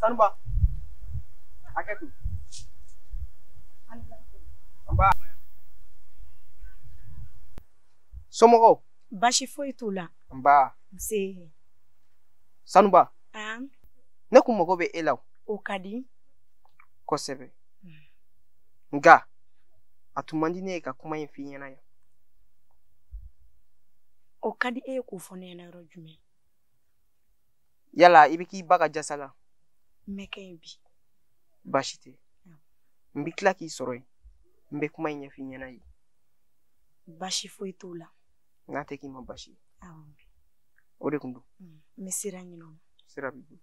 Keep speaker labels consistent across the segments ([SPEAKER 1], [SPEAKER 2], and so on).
[SPEAKER 1] sanuba a kɛ kun nba somɔgɔw baasi foyi t'u la nba nse sanuba an ne kun mago bɛ e la o ka di kosɛbɛ nka a tun man di ne ye ka kuma in f'i ɲɛna yan o ka di e ye k'o fɔ ne ɲɛna yɔrɔ jumɛn yala i bɛ k'i ba ka jasa la n bɛ kɛ yen bi baasi tɛ n bɛ tila k'i sɔrɔ yen n bɛ kuma in ɲɛf'i ɲɛna yen baasi foyi t'o la n k'a tɛ k'i ma baasi ye o de tun don n bɛ sira ɲini o ma sira b'i bolo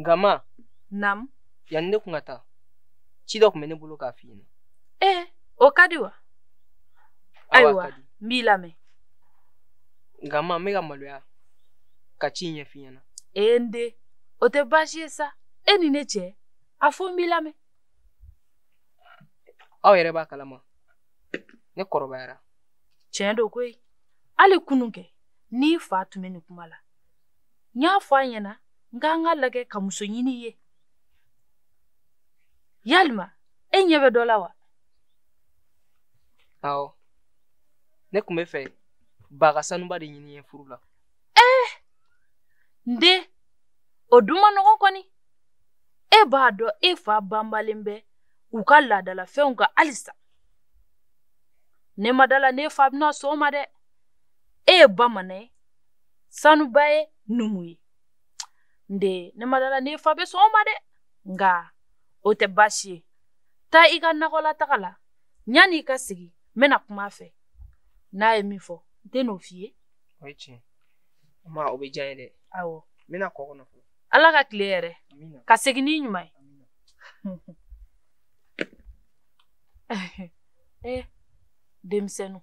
[SPEAKER 1] nka ma nam yanni ne kun ka taa ci dɔ tun bɛ ne bolo k'a f'i ɲɛna ee o ka di wa ayiwa n b'i lamɛn nka ma n bɛ ka maloya ka ci ɲɛf'i ɲɛna ee n den o tɛ baasi ye sa e ni ne cɛ a fɔ n b'i lamɛn aw yɛrɛ b'a kalama ne kɔrɔbayara tiɲɛ don koyi hali kunun kɛ n'i fa tun bɛ nin kuma la n y'a fɔ a ɲɛna n k'an k'a lagɛ ka muso ɲini i ye yalima e ɲɛ bɛ dɔ la wa awɔ ne tun b'a fɛ ba ka sanuba de ɲini n ye furu la ee eh! n den o dun man nɔgɔn kɔni e b'a dɔn e fa banbalen bɛ u ka laadalafɛnw kan halisa ne ma d'a la n'i fa bɛna sɔn o ma dɛ e ye bamanan ye sanuba ye numu ye n den ne ma d'a la n'i fa bɛ sɔn o ma dɛ nka o tɛ baasi ye taa i ka nakɔlataga la yanni i ka segin n bɛna kuma a fɛ n'a ye min fɔ n tɛ n'o f'i ye o ye tiɲɛ ma o bɛ diya n ye dɛ awɔ n bɛ nakɔ kɔnɔ fɔlɔ ala ka tile hɛɛrɛ ka segin n'i ɲuman ye eh denmisɛnninw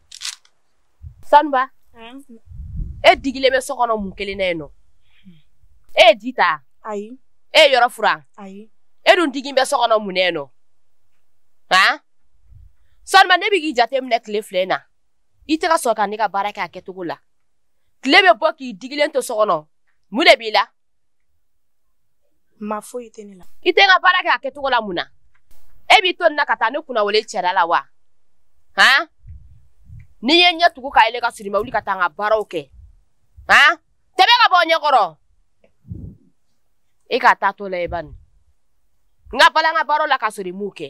[SPEAKER 1] sanuba e digilen bɛ so kɔnɔ mun kelen na yen nɔ e ye ji ta ayi e ye yɔrɔ furan ayi e dun digilen bɛ so kɔnɔ mun na yen nɔ han sanuba ne bɛ k'i jateminɛ tile fila in na i tɛ ka sɔn ka ne ka baara kɛ a kɛcogo la tile bɛ bɔ k'i digilen to so kɔnɔ mun de b'i la ma foyi tɛ ne la i tɛ n ka baara kɛ a kɛcogo la mun na e b'i to nin na ka taa ne kunna wala i cɛla la wa han ni n ye n ɲɛ tugu k'a yɛlɛ ka sɔrɔ i ma wuli ka taa n ka baaraw kɛ han tɛmɛ ka bɔ n ɲɛ kɔrɔ e k'a taa to la e ba nin n ka bala n ka baaraw la ka sɔrɔ i m'u kɛ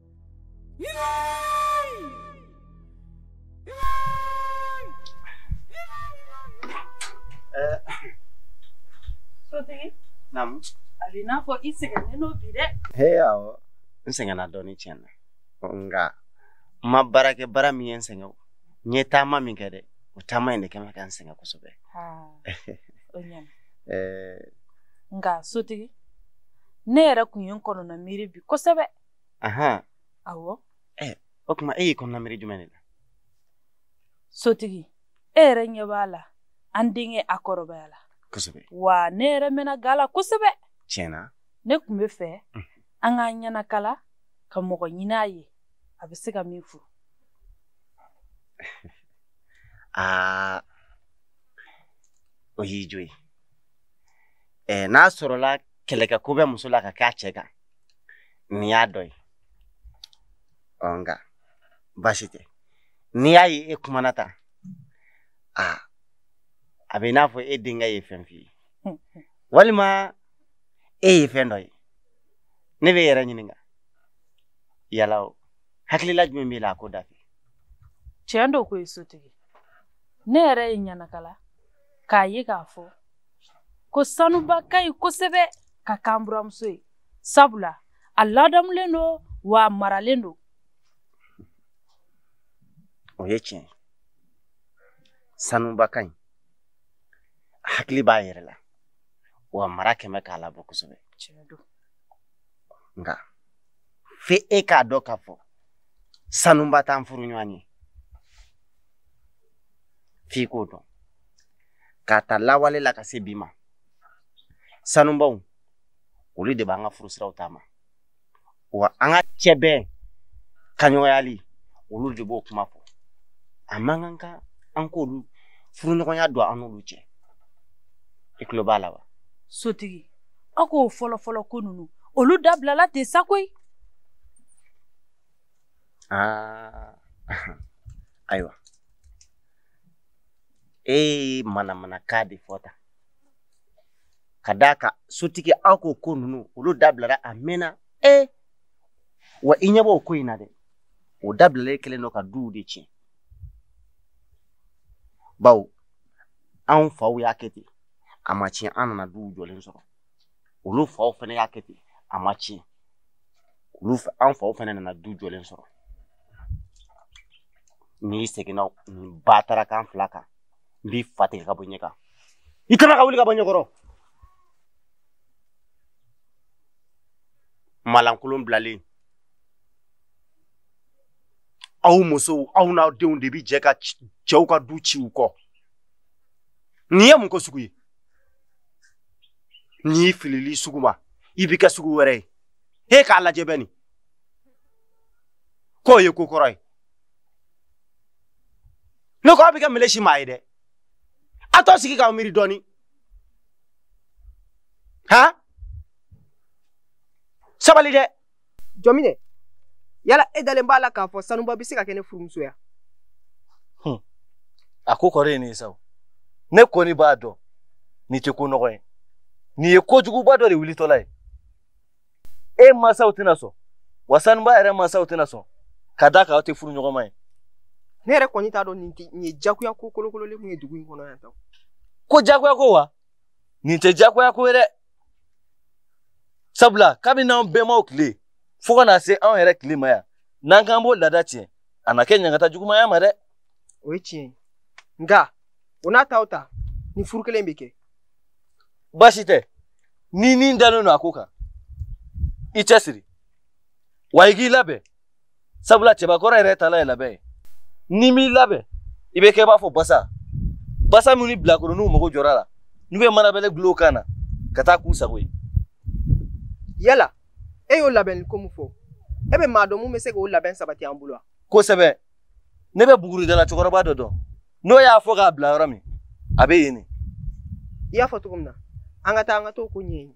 [SPEAKER 1] Sotigi. Naamu. A b'i n'a fɔ i sɛgɛnnen don bi dɛ. He awɔ n sɛgɛnna dɔɔnin tiɲɛ na nka n ma baara kɛ baara min ye n sɛgɛn o n ye taama min kɛ dɛ o taama in de kɛlen bɛ ka n sɛgɛn kosɛbɛ. o ɲɛna. nka sotigi ne yɛrɛ kun ye n kɔnɔna miiri bi kosɛbɛ. ahan awɔ ɛɛ o tuma e y'i kɔnɔna miiri jumɛn de la sotigi e yɛrɛ ɲɛ b'a la an denkɛ a kɔrɔbayala kosɛbɛ wa ne yɛrɛ mɛnna ga la kosɛbɛ tiɲɛ na ne tun bɛ fɛ an k'an ɲɛnakala ka mɔgɔ ɲini a ye a bɛ se ka min furu aa o y'i jo ye n'a sɔrɔla kɛlɛkɛko bɛ muso la ka kɛ a cɛ kan nin y'a dɔ ye ɔ nka baasi tɛ n'i y'a ye e kumana tan a a bɛ i n'a fɔ e denkɛ ye fɛn f'i ye walima e ye fɛn dɔ ye ne bɛ n yɛrɛ ɲininka yala o hakilila jumɛn b'i la a ko da fɛ tiɲɛ don ko ye sotigi ne yɛrɛ ye n ɲɛnakala k'a ye k'a fɔ ko sanuba ka ɲi kosɛbɛ ka k'an buranmuso ye sabula a ladamulen don wa a maralen don o ye tiɲɛ sanuba ka ɲi hakili b'a yɛrɛ la wa mara kɛlen bɛ k'a labɔ kosɛbɛ nka fo e k'a dɔn k'a fɔ sanuba t'an furuɲɔgɔn ye f'i k'o dɔn k'a ta lawale la ka se bi ma sanubaw olu de b'an ka furusiraw taama wa an ka cɛbɛn kaɲɔgɔnyali olu de b'o kuma fɔ a man kan ka an k'olu furuɲɔgɔnya don an n'olu cɛ i tulo b'a la wa sotigi aw k'o fɔlɔfɔlɔ ko ninnu olu dabilala ten sa koyi aa ah. ayiwa e ye manamanakan de fɔ tan ka d'a kan sotigi aw k'o ko ninnu olu dabilara a mɛnna e wa i ɲɛ b'o ko in na dɛ o dabilalen kɛlen don ka duw de tiɲɛ bawo anw faw y'a kɛ ten a ma tiɲɛ an nana duw jɔlen sɔrɔ olu faw fɛnɛ y'a kɛ ten a ma ci an faw fɛnɛ nana du jɔlen sɔrɔ n'i seginna n ba taara kan fila kan n b'i fa tigɛ ka bɔ ɲɛ kan i kana ka wuli ka bɔ n ɲɛ kɔrɔ malankolon bilalen aw musow aw n'aw denw de bi jɛ ka cɛw ka du ci u kɔ nin ye mun ko sugu ye n'i filili sugu ma i b'i kɛ sugu wɛrɛ ye he k'a lajɛ bɛ nin k'o ye ko kɔrɔ ye ne ko aw bɛ kɛ meleshi maa ye dɛ a t'aw sigi k'aw miiri dɔɔni han sabali dɛ jɔminɛ yala e dalen b'a la k'a fɔ sanuba bɛ se ka kɛ ne furumuso ye a ko kɔrɔ ye nin ye sa ne kɔni b'a dɔn nin tɛ ko nɔgɔ ye nin ye kojuguba dɔ de wulitɔla ye e mansaw tɛna sɔn wa sanuba yɛrɛ mansaw tɛna sɔn ka da kan aw tɛ furu ɲɔgɔnma ye ne yɛrɛ kɔni t'a dɔn nin tɛ nin ye jagoya ko kolokololen mun ye dugu in kɔnɔ yan tan ko jagoya ko wa nin tɛ jagoya ko ye dɛ sabula kabini an bɛnbaw tile fo ka na se anw yɛrɛ tile ma yan n'an k'an b'o laada tiɲɛ a na kɛ ɲangata juguman y'an ma dɛ o ye tiɲɛ ye nka o n'a ta o ta ni furu kelen bɛ kɛ baasi tɛ n'i ni dalen don a ko kan i cɛsiri wa i k'i labɛn sabula cɛbakɔrɔ yɛrɛ tala ye labɛn ye n'i m'i labɛn i bɛ kɛ i b'a fɔ basa basa min ni bilakoroninw mago jɔr'a la n'u bɛ manabɛlɛ gulon u kan na ka taa k'u sago ye yala e y'o labɛn ko mun fɔ e bɛ maa dɔn mun bɛ se k'o labɛn sabati an bolo wa kosɛbɛ ne bɛ buguridala cɛkɔrɔba dɔ dɔn n'o y'a fɔ k'a b'i la yɔrɔ min a bɛ yen de i y'a fɔ cogo min na an ka taa an ka t'o ko ɲɛɲini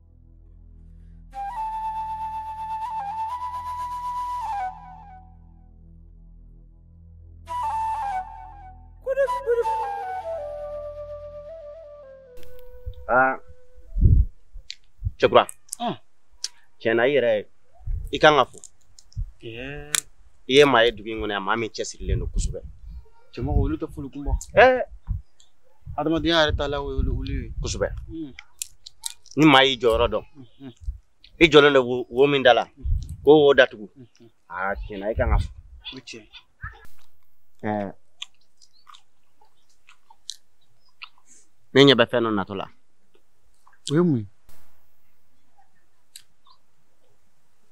[SPEAKER 1] Ah. Cɛkura. Ah. Tiɲɛna i yɛrɛ i kan ka fo. Yeah. I ye maa ye dugu in kɔnɔ yan maa min cɛsirilen don kosɛbɛ. Cɛmɔgɔ olu tɛ foli kun bɔ. Ɛɛ. Adamadenya yɛrɛ tala o ye olu ye. Kosɛbɛ. Hmm. ni maa y'i jɔyɔrɔ dɔn i jɔlen don wo min da la k'o wo datugu aa tiɲɛna i kan ka ne ɲɛ bɛ fɛn dɔ natɔ la o ye mun ye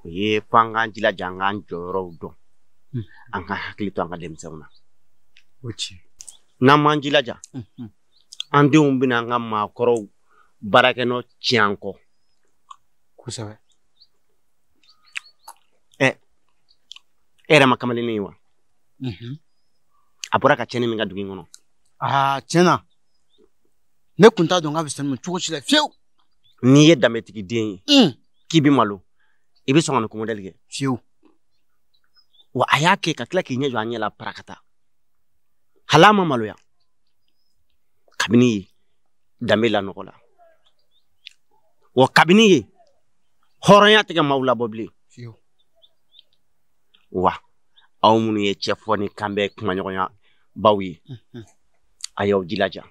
[SPEAKER 1] o ye fo an k'an jilaja an k'an jɔyɔrɔw dɔn an k'an hakili to an ka denmisɛnw na o tiɲɛ n'an m'an jilaja an denw bɛna an ka maakɔrɔw baarakɛnɔ tiɲɛ an kɔ kosɛbɛ ɛ e yɛrɛ ma kamalennin ye wa mhm. a bɔra ka tiɲɛni min kɛ dugu in kɔnɔ aa tiɲɛ na ne kun t'a dɔn k'a bɛ se nin ma cogo si la fiyewu n'i ye danbetigi den ye mm. k'i bɛ malo i bɛ sɔn ka nin ko mɔdɛli kɛ fiyewu wa a y'a kɛ ka tila k'i ɲɛ jɔ an ɲɛ la parakata hali a ma maloya kabini ye danbe lanɔgɔ la wa kabini ye hɔrɔnya tɛ kɛ maaw labɔ bilen wa aw minnu ye cɛ fɔ ni kan bɛ kumaɲɔgɔnyabaw ye mhm. a y'aw jilaja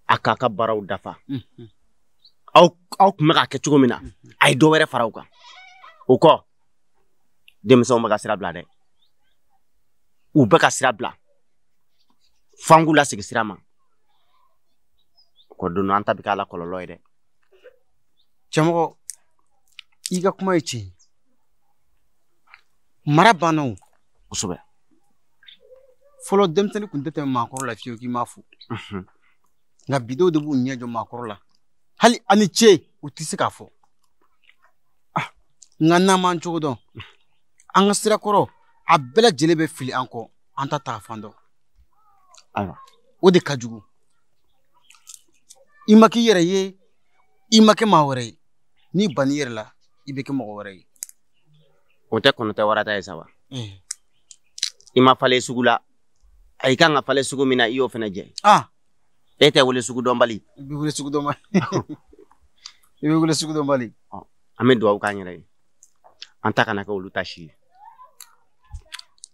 [SPEAKER 1] a k'a ka baaraw dafa mhm. aw aw kun bɛ k'a kɛ cogo min na mhm. a ye dɔ wɛrɛ fara u kan o kɔ denmisɛnw bɛ ka sira bila dɛ u bɛ ka sira bila f'an k'u lasegin sira ma ko don an ta bɛ k'a la kɔlɔlɔ ye dɛ cɛmɔgɔ i ka kuma ye tiɲɛ ye mara banna o kosɛbɛ fɔlɔ denmisɛnnin kun tɛ tɛmɛ maakɔrɔ la fiyewu k'i m'a fo nka bi denw de b'u ɲɛ jɔ maakɔrɔ la hali a ni ce u tɛ se k'a fɔ ah, nka n'an m'an cogo dɔn an ka sira kɔrɔ a bɛɛ lajɛlen bɛ fili an kɔ an t'an taa fan dɔn ayiwa o de ka jugu i ma k'i yɛrɛ ye i ma kɛ maa wɛrɛ ye n'i banna i yɛrɛ la i bɛ kɛ mɔgɔ wɛrɛ ye o tɛ kɔnɔ tɛ wara tɛ ye sa ba eh. i ma falen sugu la a i kan ka falen sugu min na i y'o fana jɛ ah. e tɛ wele sugu dɔnbali i bɛ wele sugu dɔnbali i bɛ wele sugu dɔnbali an bɛ dugawu k'an yɛrɛ ye an ta kana kɛ olu ta si ye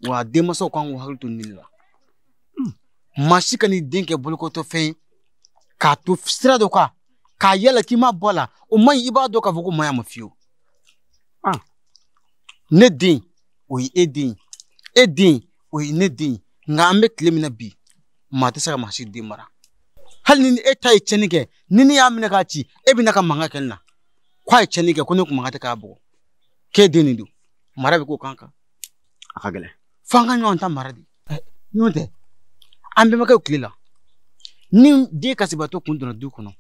[SPEAKER 1] wa denmansaw kan k'u hakili to nin de la hmm. maa si kan'i den kɛ bolokotɔfɛn ye k'a to sira dɔ kan ka yaala k'i mabɔ a la o man ɲi i b'a dɔn k'a fɔ k'o ma ɲa an ma fiyewu ah. ne den o ye e den ye e den o ye ne den ye nka an bɛ tile min na bi maa tɛ se ka maa si den mara hali ni e ta ye tiɲɛni kɛ ni ne y'a minɛ k'a ci e bɛ na ka mankan kɛ ne na ko a ye tiɲɛni kɛ ko ne kun man kan de k'a bugɔ k'e den nin don mara bɛ k'o kan kan a ka gɛlɛn fo an ka ɲɔgɔn ta mara de n'o tɛ an bɛnbakɛw tile la ni den kasibaatɔ kun donna du kɔnɔ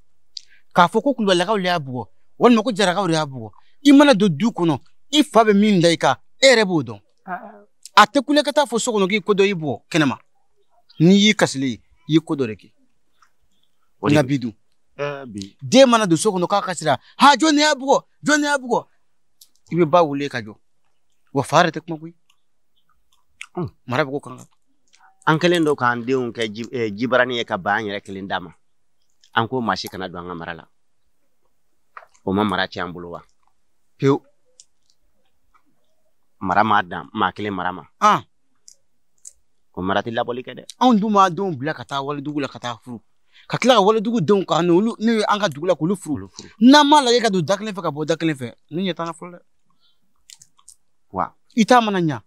[SPEAKER 1] k'a fɔ ko kulubalilakaw de y'a bugɔ walima ko jarakaw de y'a bugɔ i mana don du kɔnɔ i fa bɛ min da i kan e yɛrɛ b'o dɔn a tɛ kule ka taa fɔ so kɔnɔ k'i ko dɔ y'i bugɔ kɛnɛma n'i y'i kasili i ye ko dɔ de kɛ o na bi dun den mana don so kɔnɔ k'a kasira ha jɔn ne y'a bugɔ jɔn ne y'a bugɔ i bɛ ba wele ka jɔ wa fa yɛrɛ tɛ kuma koyi hmm. mara bɛ ko kan an kɛlen don k'an denw kɛ eh, jibarani ye ka ban an yɛrɛ kelen dama an ko maa si kana don an ka mara la o ma mara tiɲɛ an bolo wa pewu mara ma dan maa kelen mara ma ah. ko mara tɛ labɔli kɛ dɛ anw dun b'an denw bila ka taa walidugu la ka taa furu ka tila ka walidugu denw ka n'olu n'u ye an ka dugu la k'olu furu n'an m'a lajɛ ka don da kelen fɛ ka bɔ da kelen fɛ ne ɲɛ t'an na fɔlɔ dɛ wa i ta mana ɲa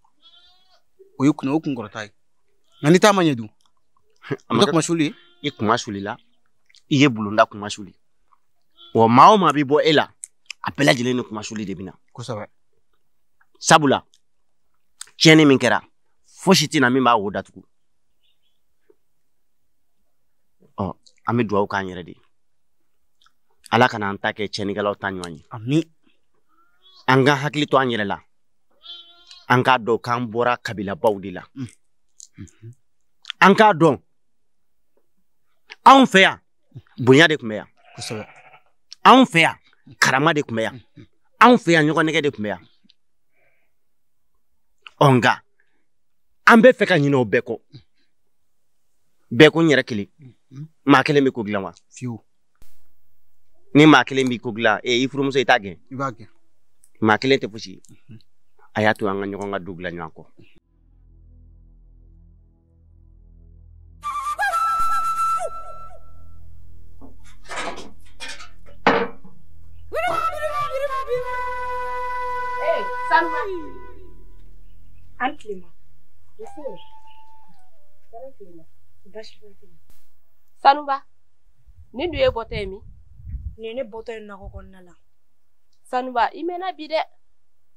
[SPEAKER 1] o ye kunna o kunkɔrɔta ye nka n'i ta ma ɲɛ dun a ma kɛ kunmasuli ye i kunma sulila i ye bulonda kunma suli wa maa o maa bɛ bɔ e la a bɛɛ lajɛlen ni kunmasuli de bɛ na kosɛbɛ sabula tiɲɛni min kɛra fosi tɛ na min b'a wo datugu ɔ an bɛ dugawu k'an yɛrɛ de ye ala kana an ta kɛ tiɲɛnikɛlaw ta ɲɔgɔn ye ami an ka hakili to an yɛrɛ la an k'a dɔn k'an bɔra kabilabaw de la an k'a dɔn anw fɛ yan bonya de tun bɛ yan kosɛbɛ anw fɛ yan karama de tun bɛ yan anw fɛ yan ɲɔgɔn nɛgɛ de tun bɛ yan ɔ nka an bɛ fɛ ka ɲinɛ o bɛɛ kɔ bɛɛ ko n yɛrɛ kelen maa kelen bɛ ko dilan wa fiyewu ni maa kelen bɛ ko dilan ee i furumuso i t'a gɛn i b'a gɛn maa kelen tɛ fosi a y'a to an ka ɲɔgɔn ka du dilan ɲɔgɔn kɔ A ni tile, ma. Sanuba, nin dun y'i bɔtɔ ye min? Nin ye ne bɔtɔ ye nakɔ kɔnɔna la. sanuba i mɛnna bi dɛ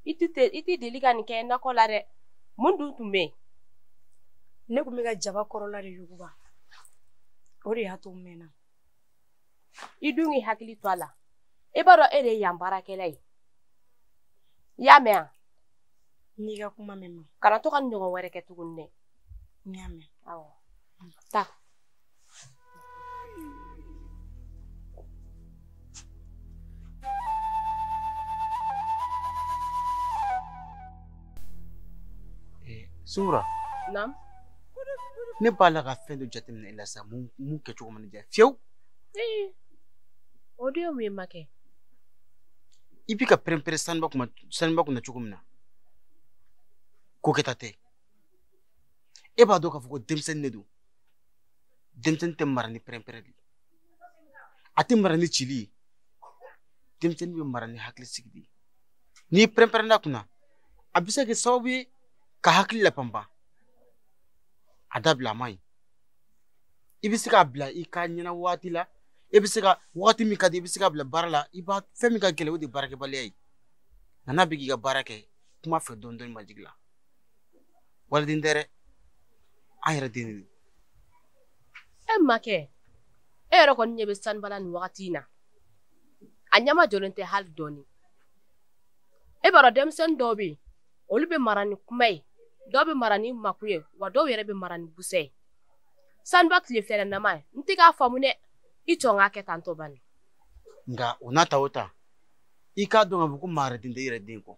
[SPEAKER 1] i tɛ i tɛ deli ka nin kɛ nakɔ la dɛ mun dun tun bɛ yen ne tun bɛ ka jaba kɔrɔla de yuguba o de y'a to n mɛnna i dun k'i hakili to a la i b'a dɔn e de ye yan baarakɛla ye i y'a mɛn wa n y'i ka kuma mɛn ma kana to ka nin ɲɔgɔn wɛrɛ kɛ tuguni dɛ n y'a mɛn awɔ taa Sora ne b'a la ka fɛn dɔ jateminɛ i la sa min kɛcogo man ɲi fiyewu o de ye mun ye makɛ i bi ka pɛrɛnpɛrɛn sanuba kunna sanuba kunna cogo min na ko kɛta tɛ e b'a dɔn k'a fɔ ko denmisɛnnin de don denmisɛnnin tɛ mara ni pɛrɛnpɛrɛn de ye a tɛ mara ni cili ye denmisɛnnin bɛ mara ni hakili sigi de ye n'i pɛrɛnpɛrɛnna a kunna a bɛ se ka kɛ sababu ye k'a hakili lapanpan a dabila a man ɲi i bɛ se k'a bila i ka ɲɛna waati la i bɛ se ka waati min ka di i bɛ se k'a bila baara la i b'a fɛn min ka gɛlɛn o de ye baarakɛbaliya ye nka n'a bɛ k'i ka baara kɛ kuma a fɛ dɔɔnin dɔɔnin majigin la waliden tɛ dɛ an yɛrɛ den de e makɛ e yɛrɛ kɔni ɲɛ bɛ sanuba la nin wagati in na a ɲɛmajɔlen tɛ hali dɔɔni e b'a dɔn denmisɛnnin dɔw bɛ yen olu bɛ mara ni kuma ye dɔw bɛ mara ni makun ye wa dɔw yɛrɛ bɛ mara ni busɛ ye sanuba tile fɛɛrɛ nama ye n tɛ k'a faamu dɛ i tɔ k'a kɛ tantɔ bani nka o n'a ta o ta i k'a dɔn k'a fɔ ko maa wɛrɛ den tɛ i yɛrɛ den kɔ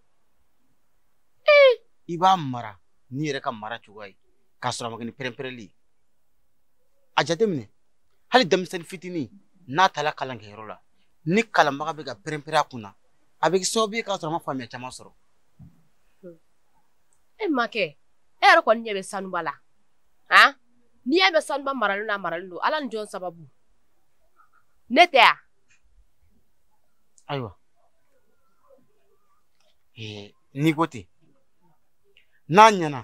[SPEAKER 1] i b'a mara n'i yɛrɛ ka mara cogoya ye k'a sɔrɔ a ma kɛ ni pɛrɛnpɛrɛnli ye a jateminɛ hali denmisɛnnin fitinin n'a taara kalankɛyɔrɔ la ni kalanbaga bɛ ka pɛrɛnpɛrɛn a kunna a bɛ kɛ sababu ye k'a sɔrɔ a ma faamuya caman sɔrɔ e makɛ e yɛrɛ kɔni ɲɛ bɛ sanuba la han n'i y'a mɛn sanuba maralen don a maralen don ala ni jɔn sababu ne tɛ yan ayiwa n'i ko ten n'a ɲɛna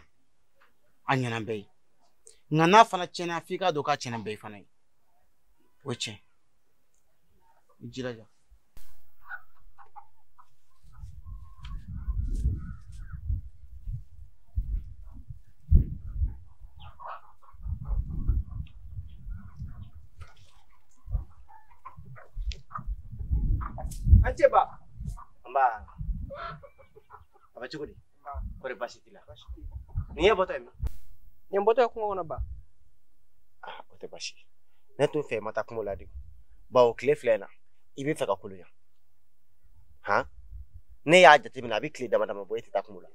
[SPEAKER 1] a ɲɛna bɛɛ ye nka n'a fana tiɲɛna f'i k'a dɔn k'a tiɲɛna bɛɛ ye fana ye o ye tiɲɛ i jilaja A ni ce ba nba a bɛ cogo di kɔri baasi t'i la nin y'e bɔtɔ ye min ne bɔtɔ ye kungo kɔnɔ ba ah, o tɛ baasi ne t'o fɛ i ma taa kungo la de bawo tile fila in na i bɛ fɛ ka kolonya han ne y'a jateminɛ a bɛ tile dama dama bɔ e tɛ taa kungo la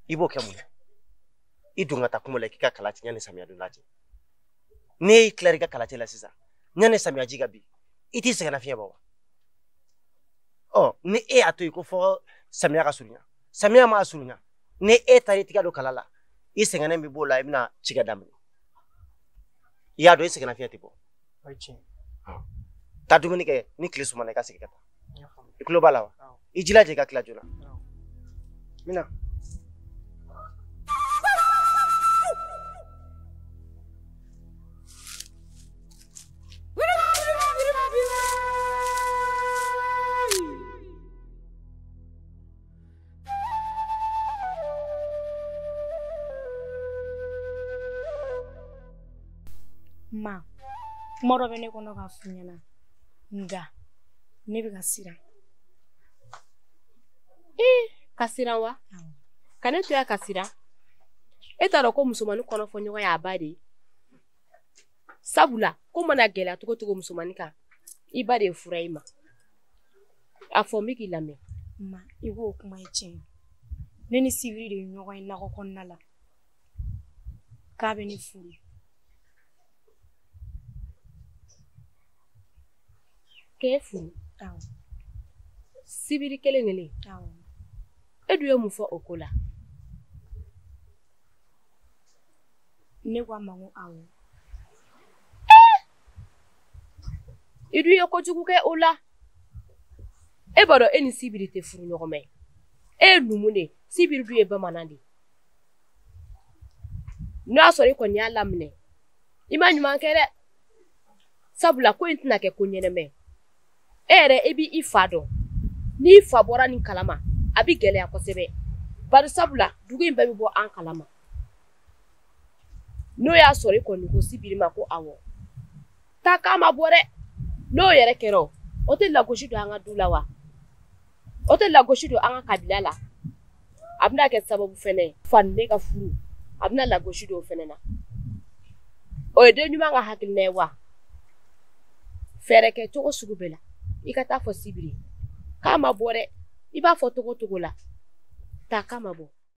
[SPEAKER 1] i b'o kɛ mun na i dun ka taa kungo la k'i ka kala cɛ yanni samiya don cɛ n'e y'i tila i ka kala cɛ la sisan yanni samiyaji ka bin i t'i sɛgɛnnafiɲɛ bɔ wa ɔ ni e y'a to yen ko fɔ samiya ka surunya samiya mana surunya ni e taara i tɛgɛ don kala la i sɛgɛnnen bɛ b'o la i bɛna ci kɛ daminɛ i y'a dɔn i sɛgɛnna fiɲɛ tɛ bɔ taa dumuni kɛ ni tile sumana i ka segin ka taa i tulo b'a la wa i jilaja i ka tila joona n bɛna ma kuma dɔ bɛ ne kɔnɔ k'a f'i ɲɛna nka ne bɛ ka siran e ka siran wa ka ne to yan ka siran e t'a dɔn ko musomannin kɔnɔ fɔ ɲɔgɔn y'a ba de ye sabula ko mana gɛlɛya cogo cogo musomannin kan i ba de ye fura ye ma a fɔ n bɛ k'i lamɛn ma i k'o kuma ye tiɲɛ ne ni sibiri de ye ɲɔgɔn ye nakɔ kɔnɔna la k'a bɛ ne furu k'e furu sibiri kelen kelen e dun ye mun fɔ o ko la ne ko a ma ko awɔ i dun ye kojugu kɛ o la e b'a dɔn e ni sibiri tɛ furuɲɔgɔnma ye e ye numu de ye sibiri dun ye bamanan de ye n'o y'a sɔrɔ i kɔni y'a laminɛ i ma ɲuman kɛ dɛ sabula ko in tɛna kɛ ko ɲɛnama ye e yɛrɛ i b'i fa dɔn n'i fa bɔra nin kalama a bɛ gɛlɛya kosɛbɛ bari sabula dugu in bɛɛ bɛ bɔ an kalama n'o y'a sɔrɔ i kɔni ko sibiri ma ko awɔ taa k'a mabɔ dɛ n'o yɛrɛ kɛra o tɛ lagosi don an ka du la wa o tɛ lagosi don an ka kabila la a bɛna kɛ sababu fɛnɛ ye i fa ni ne ka furu a bɛna lagosi don o fɛnɛ na o ye den ɲuman ka hakilina ye wa fɛɛrɛ kɛ cogo sugu bɛɛ la i ka t'a fɔ sibiri k'a mabɔ dɛ i b'a fɔ cogo cogo la taa k'a mabɔ